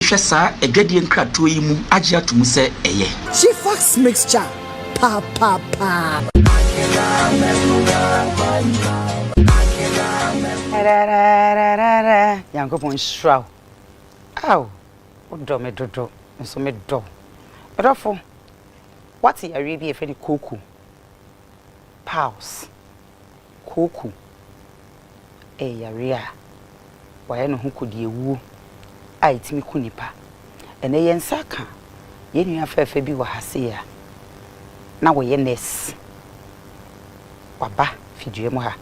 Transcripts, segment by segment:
hwɛ saa adwadie nkratoɔ yi mu agye ato mu sɛ ɛyɛ. Chifax mixture paapapaa. Rarararara Nyankopɔn nhyira wo. Aw, wodɔ me dodo, me nso medɔ wo. Ɔdɔfo, woate yareɛ bi a yɛfrɛ no koko? Pause. Koko yɛ yareɛ a wɔayɛ ne ho kodiawuo a ɛtumi ku nnipa. Ɛnnɛ yɛn nsa aka yɛn nua fɛɛfɛ bi wɔ ha sei a na ɔyɛ nurse. Waba fidua mu ha.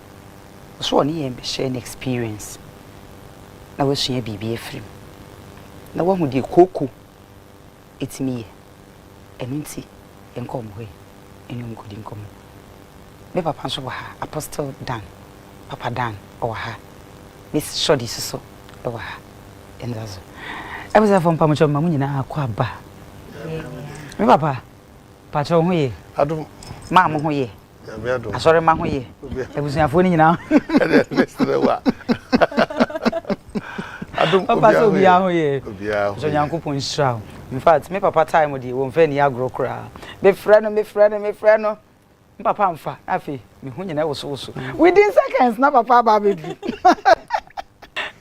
Ɔse ɔne yɛn bɛhyɛ ne experience na wasua biribi afiri mu na wahu deɛ koko ɛtumi yɛ. Ɛno nti, yɛnkɔ wɔn hɔ yi, me ne wɔn nkɔdi nkɔmmɔ. Me papa nso wɔ ha, Apostle Dan, Papa Dan, ɔwɔ ha. Miss Shorty nso so wɔ ha. Yɛnda so. Abusuafoɔ mpamokyɛ mma mo nyinaa kɔ aba. Me papa, pakyɛ wo ho ye? Adom. Maa mo ho ye? asɔremma ho yɛ abusuafoɔ no nyinaa papa sɛ obiara ho yɛ nso nyankopɔn nhyira wo infact me papa time deɛ wɔmfa ani agorɔ koraa mefrɛ no mefrɛ no mefrɛ no me papa amfa na afei meho nyina wosowoso mm. within seconds na papa aba abɛduru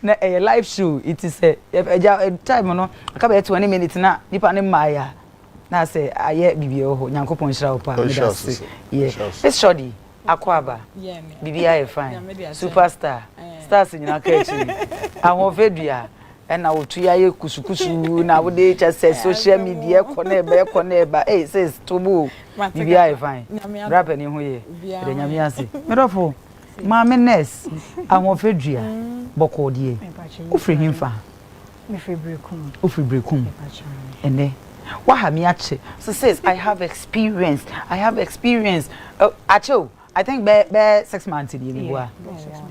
na ɛyɛ live show ɛti sɛ ɛgya time no aka bɛyɛ 20 minutes na nipa no mmaeɛ a Na sɛ ayɛ bibia wɔ hɔ. Nyankopɔn nhyira wo paa meda ase yɛ miss shordy akɔaba bibia ayɛ fine super star stars nyinaa ka akyire ahoɔfɛ dua ɛna wo to ya yɛ kusu kusu na wode kyɛ sɛ social media ɛkɔ na ɛba ɛkɔ na ɛba ei sis to bo o bibia ayɛ fine bra panin ho yɛ yɛda nyame ase me dɔfo maame nurse ahoɔfɛ dua bɔkɔɔ deɛ wofiri henfa Mefiri Berekum. Wofiri Berekum? Ɛnɛ waha me akyɛ. So sis, I have experience. I have experience. Uh, akyɛ o. I think bɛ bɛ six months ni ebi bua.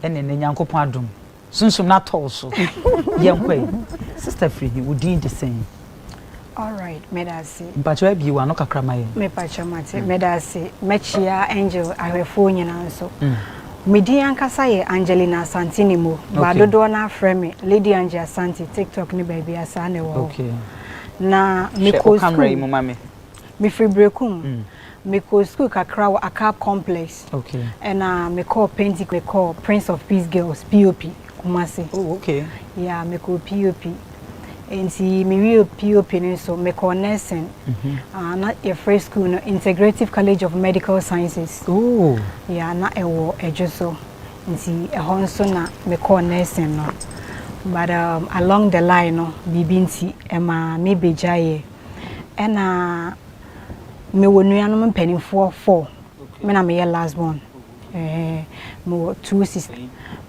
Ɛnɛ ne Nyankopɔn adom. Sunsum na tɔw so. Yɛn kɔ yi. Sister firi he, wo din de sɛn? Alright, medase. Mpakyɛw abie w'ano kakra ma yɛn. Mepakyɛw mate, mm. medase. Mɛkyia Angel ahwɛfoɔ nyinaa nso. Mm. Me din ankasa yɛ Angelina Asante ne mu. Okay. Ba dodoɔ no afrɛ me Lady Angie Asante TikTok ne baabi asaa na ɛwɔ hɔ. Okay. Na mekɔ school. Hwɛ ɔkamera yi mu ma me. Mefiri Brekum. Mm. Mekɔɔ sukuu kakra wɔ Akab Complex, ɛna mekɔɔ Pentecost, mekɔɔ Prince of Peace Girls, POP, Kumasi. Oh, okay. Yeah, mekɔɔ POP. Nti mewie POP no nso mekɔɔ nursing. Mm -hmm. uh, na yɛfrɛ sukuu no Integrative College of Medical Sciences. Oh. Yeah, na ɛwɔ ɛdwo so. Nti ɛhɔ nso na mekɔɔ nursing no. But um, along the line no, biribi nti ɛma mebɛgyaeɛ. Ɛna Mewɔ nuanom mpanimfoɔ four, me na meyɛ last born. Mewɔ two sisters.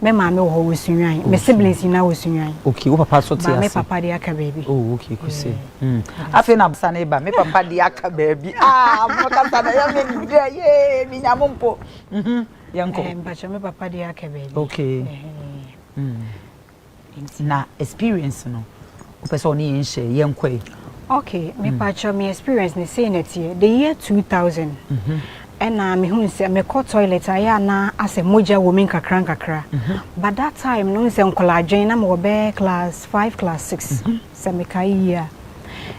Me maame wɔ hɔ wɔ Sunyani. Me siblings nyinaa wɔ Sunyani. Okay, wo papa nso te ase? Me papa deɛ aka baabi. Oh, okay, kose. Hmm. Afei na basa ne ba, me papa deɛ aka baabi. Ah, mo kasa na yɛ me dɛ, yee, me nya mo mpo. Mhm, yɛnkɔ. Eh, mpakyɛ, me papa deɛ aka baabi. Okay. Hmm. Nti na experience no wopɛ sɛ ɔne yɛn share, yɛnkɔ ɛ. Ok, mepakyɛw me experience no sei na ɛteɛ, the year 2000 ɛna mehuu sɛ mekɔ toilet a ɛyɛ a na asɛ mogya wɔ mu nkakra nkakra but that time no wohu sɛ nkɔlaadwen na mewɔ bɛyɛ class 5 class 6 sɛ mekae yie a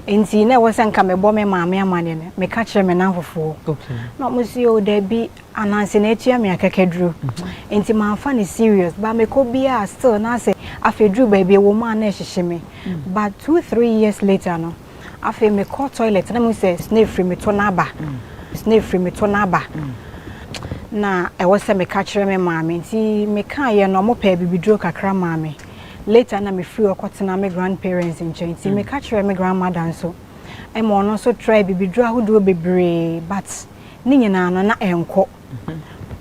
nti na ɛwɔ sɛ nka mebɔ me maame amaneɛ no meka kyerɛ me namfofoɔ na ɔmo se o dabi Ananse na atua me akakaduru. Nti mamfa no serious. But mekɔ biara still na sɛ afei duru baabi ɛwɔ mu a na ɛhyehye me. But two three years later no, afei mekɔ toilet na mehu sɛ snail firi me to no aba. Snail firi me to no aba. Na ɛwɔ sɛ meka kyerɛ me maame. Nti mekaeɛ no, wɔpɛɛ bibiduro kakra maa me. Later na mefiri hɔ kɔtenaa me grandparents nkyɛn. Nti meka kyerɛɛ me grandmother nso ma ɔno nso traae bibiduro ahodoɔ bebree but. ne nyinaa no na ɛnkɔ.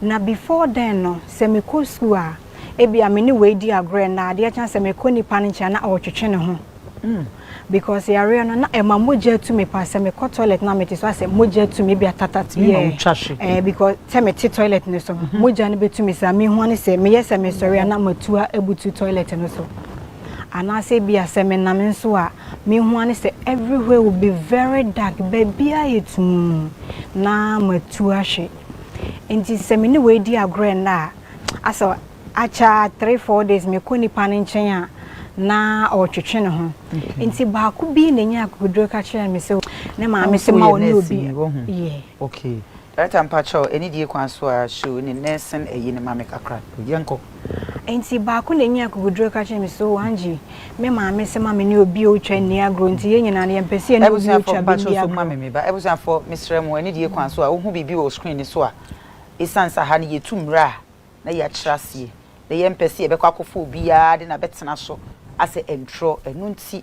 Na before then no, sɛ mekɔ sukuu a, ebia me ne wei di agorɔ ɛnnɛ, adeɛ kye a sɛ mekɔ nipa no nkyɛn a na ɔretwetwe ne ho. Because yareɛ no, na ɛma mogya tu me paa. Sɛ mekɔ toilet na mete so a, sɛ mogya tu me, ebia tatat, Ɛma yeah. wotwa hwe. Eh, because sɛ mete toilet no so no, mogya no bɛtu me saa. Mehu ne sɛ meyɛ sɛ mesɔre a na matu a abutu toilet no so. Anaasɛ ebia sɛ menam nso a, mehu ne sɛ everywhere will be very dark, baabiara yɛ tumm. na matu ahwe. Enti sɛ me ne wei di agorɔ nnɛ a, asɛ akyɛ ara three, four days mekɔ nipa no nkyɛn a, na ɔretwetwe ne ho. Enti baako bi na ɛnyaa akokoduro ka kyerɛɛ me sɛ ne maame se ma ɔne obi. Okay. Director mpakyɛw, anidie kwan so ara show ne nursing ayi no ma me kakra. Yɛnkɔ. Enti baako na enyaa akokoduru ka kyerɛɛ me sɛ, Oo, Angie, me maame sɛ ma me ne obi a otwa nni agorɔ, enti yɛn nyinaa no, yɛmpɛ sɛ yɛne obi a otwa bi nni agorɔ. Abusuafo, mesrɛ mo, anidie kwan so a wohu biribi wɔ screen no so a, esiane sɛ ha no yɛtu mmara a na yɛakyerɛ aseɛ, na yɛmpɛ sɛ yɛbɛkɔ akɔfa obiara de no abɛtena so asɛ ɛntrɔ, ɛno nti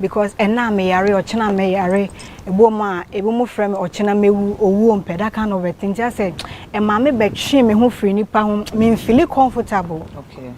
Because ɛna a me yare ɔkyena mɛ yare ɛbom a ebi mo frɛ me ɔkyena mɛ wu owuo mpɛ that kind of a thing nti asɛ ɛma me bɛ twe me ho firi nipa ho me nfili comfortable okay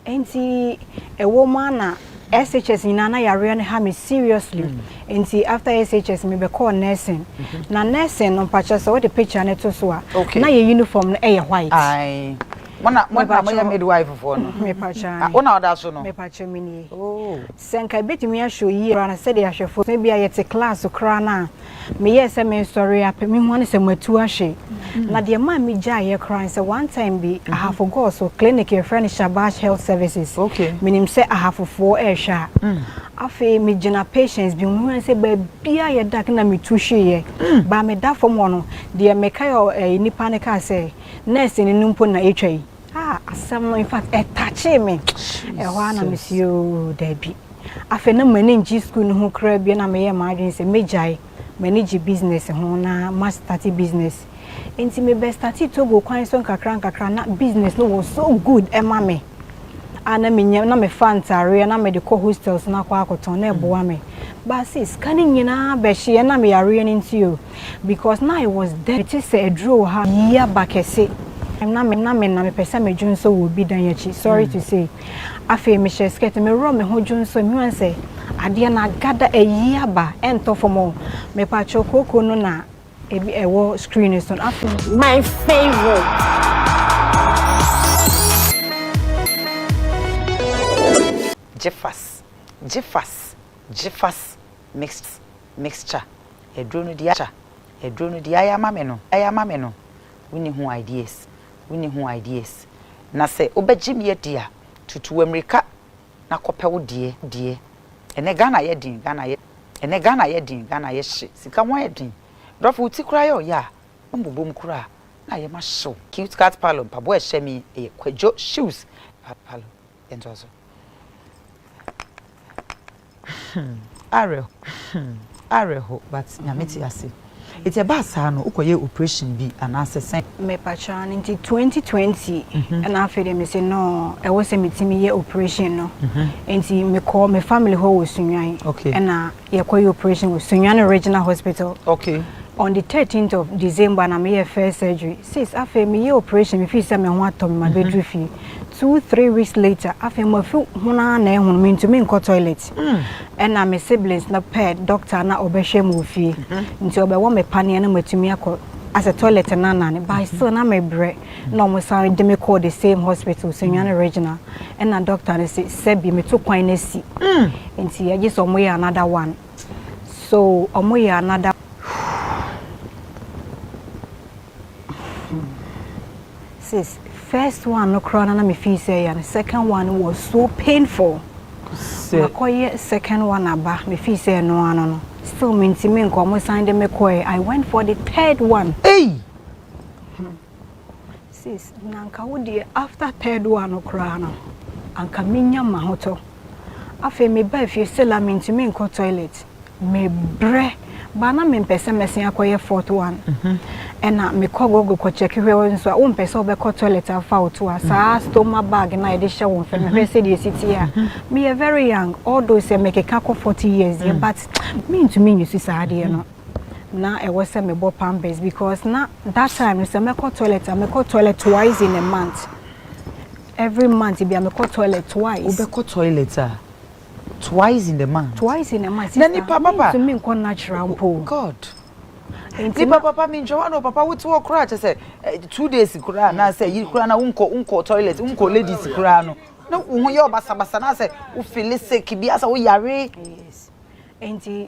nti ɛwɔ mu a na SHS nyinaa na yareɛ no ha me seriously mm. nti after SHS me bɛ call nursing mm -hmm. na nursing no mpakyɛ sɛ wɔde picture no to so a okay. na yɛ uniform no ɛyɛ white. Aye. Mona mona mo yɛ midwife foɔ no. Mepakyɛ. Wona ɔda so no. Mepakyɛ menie. Oh. Sɛ anka ebetumi ahyɛ oye koraa no, sɛdeɛ ahwɛfoɔ sɛ ebia yɛte klaase koraa no a, meyɛɛ sɛ meresɔre apɛ me ho ano sɛ matu ahwe. Na deɛ ɛmaa megyaeeɛ koraa ne sɛ, one time bi, Ahafo Gɔɔ so, clinic yɛfrɛ no Shabash Health Services, menim sɛ Ahafofoɔ rehwɛ a, afei megyina patients bi ho, mehunu ara sɛ baabiara ayɛ dark na metu hweeɛ. Baa meda fam hɔ no, deɛ mekae a nnipa no kaa sɛ, Nɛɛseni no mpo na atwa yi. ah asɛm no in fact ɛ touchee me ɛhɔ a na mesi oo daabi afei na m'ani ngye sukuu no ho koraa bio na meyɛ m'adwene sɛ mɛgyae m'ani gye business ho na mastate business nti mebɛstate togo kwan so nkakra nkakra na business no was so good ɛma me a na menya na mefa ntareɛ na mede kɔ hostels no akɔ akɔtɔn na ɛboa me baase sika no nyinaa bɛhyeɛ na meyareɛ no nti o Because na I was there mete sɛ aduro wɔ ha yiyi aba kɛse na me na me na me pɛ sɛ me dwonsɔ wɔ obi dan akyi sorry to say afei me hyɛ skirt me worɔ me ho dwonsɔ me hu sɛ adeɛ no agada ayiyi aba ɛntɔ fam o me patrɔ kooko no na ebi ɛwɔ screen no so no afei. My favorite. Gyefas gyefas gyefas mixed mixture aduro no diaa aduro no diaa ya ma me no ya ma me no wonni ho ideas wonni ho ideas na sɛ wobɛgye me adi a tutu amirika na kɔpɛ wo deɛ deɛ ɛnɛ Ghana ayɛ den Ghana ayɛ ɛnɛ Ghana ayɛ den Ghana ayɛ hye sika ho ayɛ den dɔfo wo ti koraa yɛ ɔyɛ a wombobɔ mu koraa na ayɛ ma hyew cute cat palo mpaboa ɛhyɛ me yi ɛyɛ kwadwo shoes palo yɛntoa so. awerɛho but nyame te ase. Nti ɛbaa saa no wokɔ yɛɛ operation bi anaasɛ sɛn. Mepakyɛw no nti twenty twenty ɛna afei deɛ me se noo ɛwɔ sɛ me tumi yɛ operation no nti me kɔɔ me family hɔ wɔ Sunyani ɛna yɛ kɔ yɛ operation wɔ Sunyani regional hospital on the thirteenth of December na me yɛ first surgery sis afei me yɛ operation me fii sɛ me ho atɔ me ma bɛ duru fie. two three weeks later afei mafi ho no ara na ɛho no mentumi nkɔ toilet ɛna me siblings no pɛ doctor na ɔbɛhwɛ mu wɔ fie nti ɔbɛwɔ me paneɛ na matumi akɔ asɛ toilet no anane but still na mebrɛ na ɔmo san de me kɔɔ the same hospital Sunyani regional ɛna doctor no se sɛbi meto kwan no asi nti agye sɛ ɔmo yɛ another one so ɔmo yɛ another Sis, first one no koraa na na me feel sɛ ɛyɛ no, second one no was so painful. Makɔyɛ second one aba, me feel sɛ ɛno ano no, still mentumi nkɔ, ɔmo san de me kɔɛ, I went for the third one. Ei! Hmm. Sis, na anka wo deɛ after third one no koraa no, anka menya mahotɔ. Afei mebaa fie sɛ la mentumi nkɔ toilet. Mebrɛ baa na mempɛ sɛ mɛsen akɔyɛ fourth one. Ɛna mekɔ Google kɔ check hwɛ wo nso a wompɛ sɛ wobɛkɔ toilet a fa wo to a saa stoma bag no a yɛde hyɛ wo nsa no hwɛ sɛdeɛ ɛsi teɛ a. Meyɛ very young although sɛ mekeka kɔ forty years deɛ but mentumi use saa adeɛ no. Na ɛwɔ sɛ mebɔ pampers because na that time no sɛ mɛkɔ toilet a mekɔ toilet twice in a month. Every month bia me kɔ toilet twice. Wo bɛ kɔ toilet a twice in the month. Twice in the month sister. Na nipa papa. Mintu mi nkɔ natural mpo. God. Nipa papa mi ntwa wa no papa wo te wɔ kura kyɛ sɛ two days kura na sɛ yi kura na wo nkɔ wo nkɔ toilet wo nkɔ ladies kura no. Na wo ho yɛ ɔbasabasa na sɛ wo feel sick bi asɛ wo yare. Yes. Enti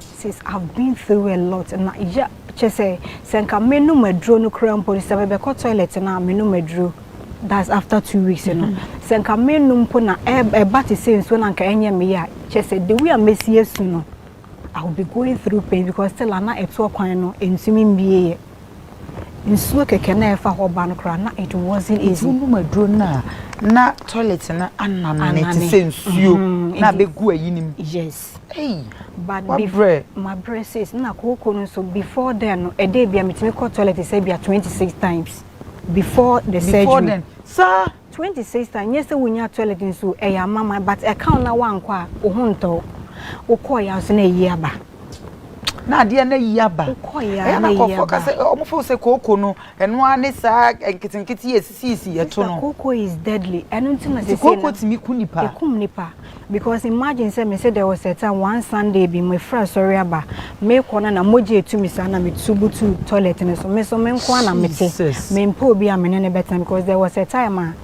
Sis I've been through a lot na ya kyɛ sɛ sɛ nka menom aduro no kura mpo sɛ mebɛkɔ toilet no a menom aduro that's after two weeks no mm-hmm. sɛ nka menom mpo na ɛba te sɛ nsuo na nka ɛnyɛ me yɛ kyɛ sɛ the way a mɛsi asu no I will be going through pain because still ana ɛtoɔ kwan no ɛntumi mbie yɛ Nsuo kɛkɛ na ɛfa hɔ ba no koraa na it wasn't easy. Ɛduru nom aduro no a na toilet no anane te sɛ nsuo na abɛgu ayi no mu. Yes. Ei, wabrɛ. Mabrɛ sis, na kooko no nso before then no ɛda bi a metumi kɔ toilet sɛ bi a twenty six times before the surgery. Before then, saa. Twenty sister nyɛ sɛ wonyaa toilet nso ɛyɛ amama but ɛka wo na woankɔ a wo ho ntɔ wo wokɔɔ yɛ a nso na ayi aba na adeɛ no ayi aba wokɔɔ yɛ a ɛyɛ na na ayi nkurɔfoɔ ka aba sɛ wɔn feel sɛ kooko no ɛno ara ne saa nketenkete yi a ɛsisiisi yɛto sister no kooko is deadly ɛno nti na nti seesei kooko no tumi ku nipa ekum nipa Because imagine sɛ mese there was a time one Sunday bi mefiri asɔre aba mekɔ na na mogya etu me saa na metu butu toilet no so me so me nko ara na mete mempɛ obi a me ne no bɛtena because there was a time a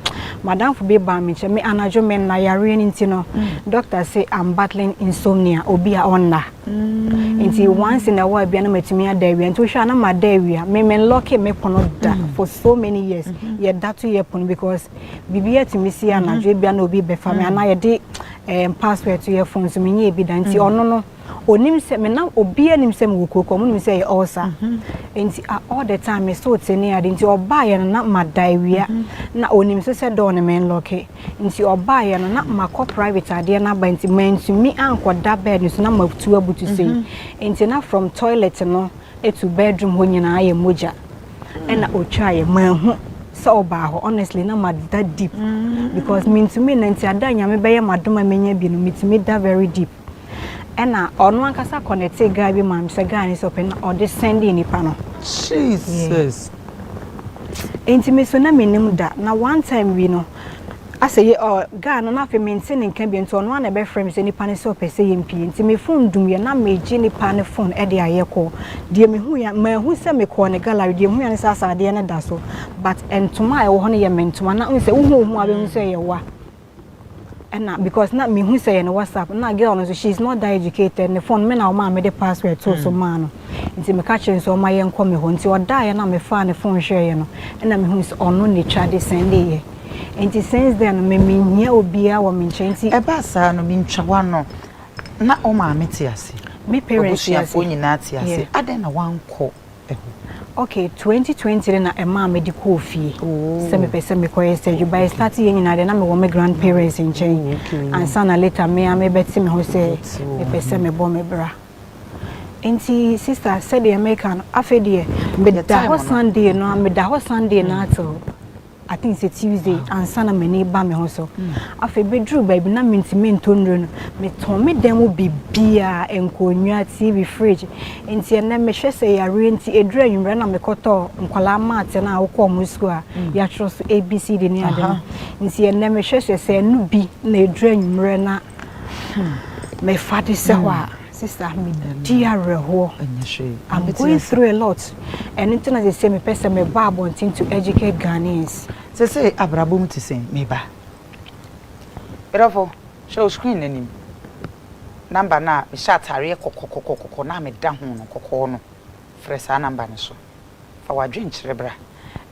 madamfo bi baa me nkyɛn me anadwo me nna yareɛ no nti no doctor say I'm battling insomnia obi a ɔnna nti once in a while bia na matumi ada awia nti wohwɛ a na mada awia me me lɔke me pono da for so many years yɛda to yɛ pono because biribi atumi si anadwo ebia na obi bɛfa me anaa yɛde ɛɛm password to yɛ phone so menyɛ ebi da nti ɔno no onim sɛ me nam obi anim sɛ mewɔ kurokuo ɔmo nim sɛ yɛ ɔɔsa nti a all the time me so te ne ade nti ɔbaa yɛ no na ma da awia na onim so sɛ dɔɔ no me nlɔke nti ɔbaa yɛ no na ma kɔ private adeɛ no aba nti mantumi ankɔ da bed no so na ma tu abutu sei nti na from toilet no to bedroom hɔ nyinaa yɛ mogya. ɛna otwaa yɛ manhu sɛ ɔbaa hɔ honestly na mada deep mm. because mentumi na nti ada nyame bɛyɛ madom a menya bi no metumi da very deep ɛna ɔno ankasa kɔnɛte guy bi ma me sɛ guy ne sɛ ɔpɛ na ɔde sɛnde nipa no jesus nti me so na menim da na one time bi no Asɛ yɛ ɔ guy no na afei me nte ne nka bio nti ɔno a na ɛbɛ frɛ me sɛ nipa no sɛ ɔpɛ sɛ yɛ mpie nti me phone dum yɛ na me gye nipa no phone ɛde ayɛ call deɛ me hu yɛ ma hu sɛ me kɔɔ ne gallery deɛ me hu yɛ ne sɛ asɛ adeɛ no da so but ntoma a ɛwɔ hɔ no yɛ me ntoma na hu sɛ wo hu wo hu a bɛ hu sɛ yɛ wa ɛna because na mehu sɛ yɛ ne whatsapp na girl no nso she is not that educated ne phone me na ɔmaa me de password too so maa no. Ntsi mekã kyerɛɛ no sɛ ɔmma yɛnkɔ me hɔ. Ntsi ɔdaeɛ na mefaa ne fon hwɛeɛ no, nna mehui sɛ ɔno na etwa de sɛn de yɛ. Ntsi since then no, me mennhia obiara wɔ me nkyɛn ntsi. Ɛbaa saa no, mentwa w'ano. Na wo maame te ase? Me parents te ase. W'abusuafoɔ nyinaa te ase? Yeah. Adɛn na woankɔ hɔ? Okay, twenty twenty no na ɛmaa mede kɔɔ fie sɛ Oh, mepɛ sɛ mekɔyɛ surgery. oh, But okay. ɛstarteeɛ nyinaa deɛ na mewɔ me grandparents nkyɛn Oh, okay. ansa na later me ara mebɛte me ho sɛ Wobɛte wo ho. mepɛ sɛ mebɔ me bra. Nti sista sɛdeɛ meka no afei deɛ meda hɔ Sunday no meda hɔ Sunday no ato I think sɛ Tuesday ansa na m'ani ba me ho so afei bɛduru baabi na mentumi ntɔ nnuro no metɔn me dan mu biribiara nkonnwa TV fridge nti ɛnɛ mehwɛ sɛ yareɛ nti ɛduru anwummerɛ na mekɔtɔ nkwadaa maate no a wokɔ wɔn sukuu a yɛatwerɛ so ABCD ne ade no nti ɛnɛ mehwɛ sɛ sɛ ɛno bi na ɛduru anwummerɛ na Hmm. Mefa de sɛ hɔ a, hmm. sister, me di awerɛhoɔ. I'm going through a lot. Ɛno nti na sɛ mepɛ sɛ meba abɔnten to educate Ghanaians. Sɛ sɛ abrabɔ mu te sɛn meba. Berɛfo, hwɛ o screen n'anim. Namba no a mehyɛ ataareɛ kɔkɔkɔkɔkɔ na meda ho no kɔkɔɔ no, frɛ saa namba no so. Fa w'adwenkyerɛ bra.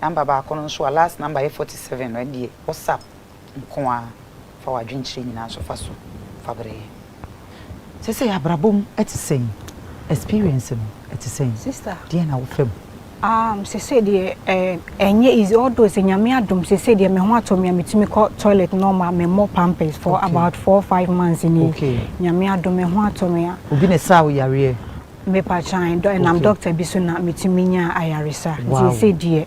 Namba baako no nso a last namba yɛ 47 no ɛdeɛ, WhatsApp. nko ara, fa w'adwenkyerɛ nyinaa nso fa so fa brɛ yɛn. Sesei abrabɔ mu te sɛn? Experience no te sɛn? Sister. Deɛn na wofa mu? Um, sesei deɛ, eh, ɛnyɛ easy, although sɛ Nyame adom, sesei deɛ me ho atɔ me a metumi kɔ toilet normal, me mmɔ pampers for okay. about four, five months ni. Okay. Nyame adom, me ho atɔ me a. Obi na ɛsaa wo yareɛ? Mepa kyan, ɛnam okay. doctor bi so na metumi nya ayaresa. Wow. Nti sesei deɛ,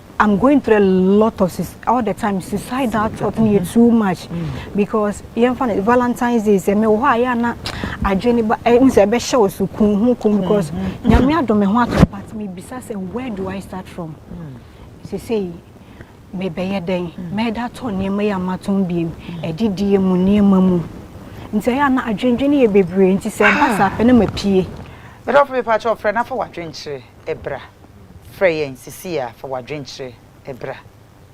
I'm going through a lot of all the time suicidal thought no yɛ too much because yɛmfa no valentine's day sɛ mewɔ hɔ a yɛ ana adwene ba ɛhu sɛ ɛbɛhyɛ wo so kun ho kun because nyame adɔ me ho ato but mebisa sɛ where do i start from sesei mebɛyɛ dɛn mɛda tɔ nneɛma yi amatɔn biem ɛdidie mu nneɛma mu nti ɛyɛ ana adwendwene yɛ bebree nti sɛ ɛba saa pɛ na mapie ɛdɔfo mepa kyɛ ɔfrɛ na fa wadwenkyerɛ bra, frɛ yɛn sesei ara, fa w'adwenkyerɛ bra.